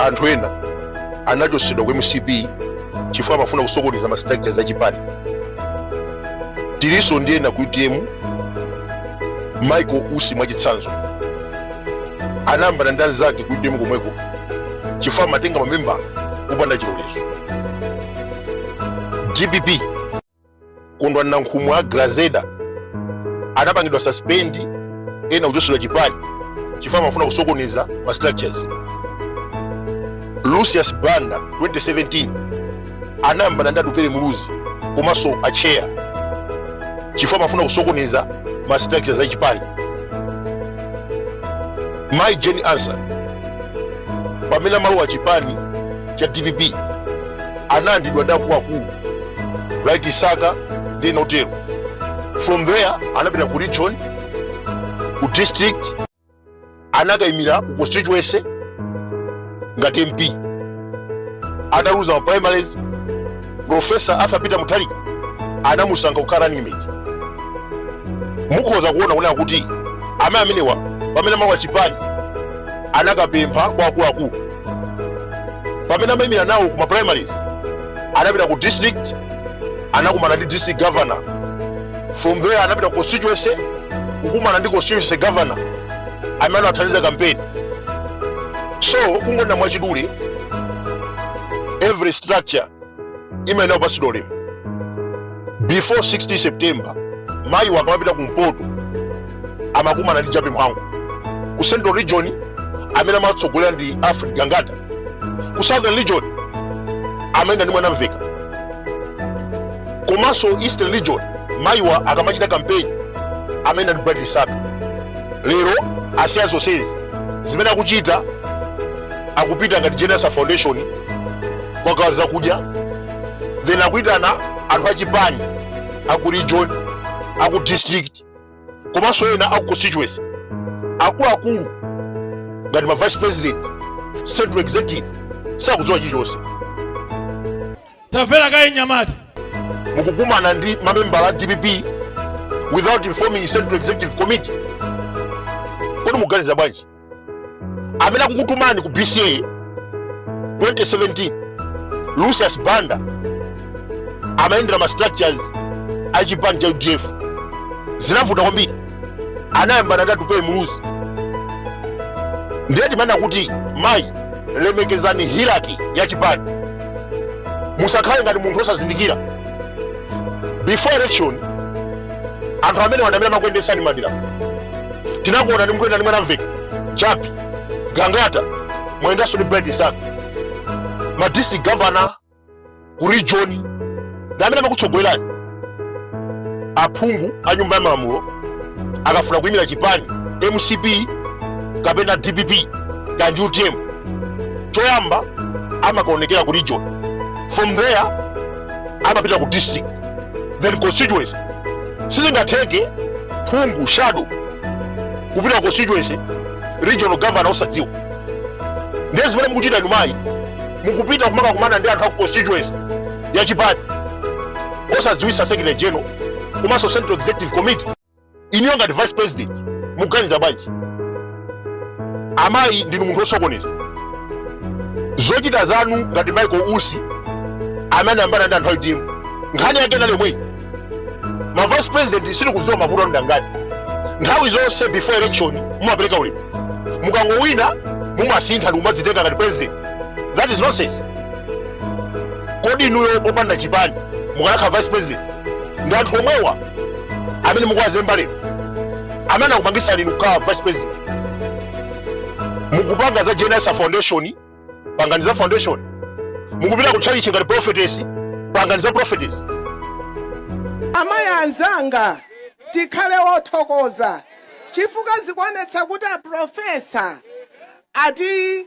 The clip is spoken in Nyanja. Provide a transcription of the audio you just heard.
anthu ena anachotsedwa ku mcp chifukwa amafuna kusokoneza ma structures a chipani tilinso ndi ena ku utm michael usi mwachitsanzo anayambana ndi anzake ku utm komweko chifukwa amatenga mamembala popanda chilolezo dpp kondwani nankhumwa a grazeda anapangidwa suspend ena kuchotsedwa chipani chifukwa amafuna kusokoneza ma structures lucius banda 2017 anayambana ndi atupere muluzi komanso acheya chifukwa amafuna kusokoneza ma structures a chipani mai jane ansah pamene amalowa chipani cha dpp analandidwa ndi akuluakulu bright msaka ndi ena otero from there anapita ku region ku district anakayimira ku constituency ngati mp ataluza ma primaries profesa arthur peter mutharika anamusankha kukhala running mate mukhoza kuona kunena kuti amayi amenewa pamene amalowa chipani anakapempha kwa akuluakulu pamene amayimira nawo kuma primaries anapita ku district anakumana ndi district governor from there anapita ku constituency kukumana ndi constituency governor amene anawathandiza kampeni so kungonena mwachidule every structure imayenera kupatsidwa ulemu before 16 september mayiwa akamapita kumpoto amakumana ndi jappie mhango ku central region amene amatsogolera ndi alfred gangata ku southern region amayenda ndi mwanamvekha komanso eastern region mayiwa akamachita kampeni amayenda ndi bright msaka lero asiya zonsezi zimene akuchita akupita ngati jane ansah foundation kukagawa zakudya then akuyitana anthu achipani aku region aku district komanso ena aku constituency akuluakulu ngati ma vice president central executive sakudziwa chilichonse tamvera kaye nyamata mukukumana ndi mamembala a dpp without informing central executive committee kodi mukuganiza bwanji amene akukutumani ku bca 2017 lucius banda amayendera ma structures a chipani cha udf zinamuvuta kwambiri anayambana ndi atupele muluzi ndiye timanena kuti mayi lemekezani hierarchy ya chipani musakhale ngati munthu osazindikira before election anthu amene wanamira amakuyendetsani madera tinakuonani mukuyenda ndi mwanamveka chappie gangata mwayendanso ndi bright msaka ma district governor ku region ndi amene amakutsogolerani aphungu a nyumba ya malamulo akafuna kuyimira chipani mcp kapena dpp kandi utm choyamba amakaonekera ku region from there amapita ku district then constituency sizingatheke phungu shadow kupita ku constituency regional governor osadziwa ndiye zimene mukuchita inu mayi mukupita kumakakumana ndi anthu a ku constituency ya chipani osadziwisa secretary general komanso central executive committee inuyo ngati vice president muganiza bwanji amayi ndinu munthu osokoneza zochita zanu ngati michael usi amene amayambana ndi anthu a utm nkhani yake inali yomweyi ma vice president sindikudziwa mavuto anu ndi angati nthawi zonse before election mumapereka ulemu mukangowina mumasintha ndi kumadzitenga ngati president that is nonsense kodi inuyo popanda chipani mukanakhala vice president ndi anthu omwewa amene mukuwazemba lero amene akupangitsani inu kukhala vice president mukupanga za jane ansah foundation pangani za foundation mukupita ku tchalitchi ngati prophetess pangani za prophetess amayi anzanga tikhale othokoza chifukwa zikuonetsa kuti aprofesa ati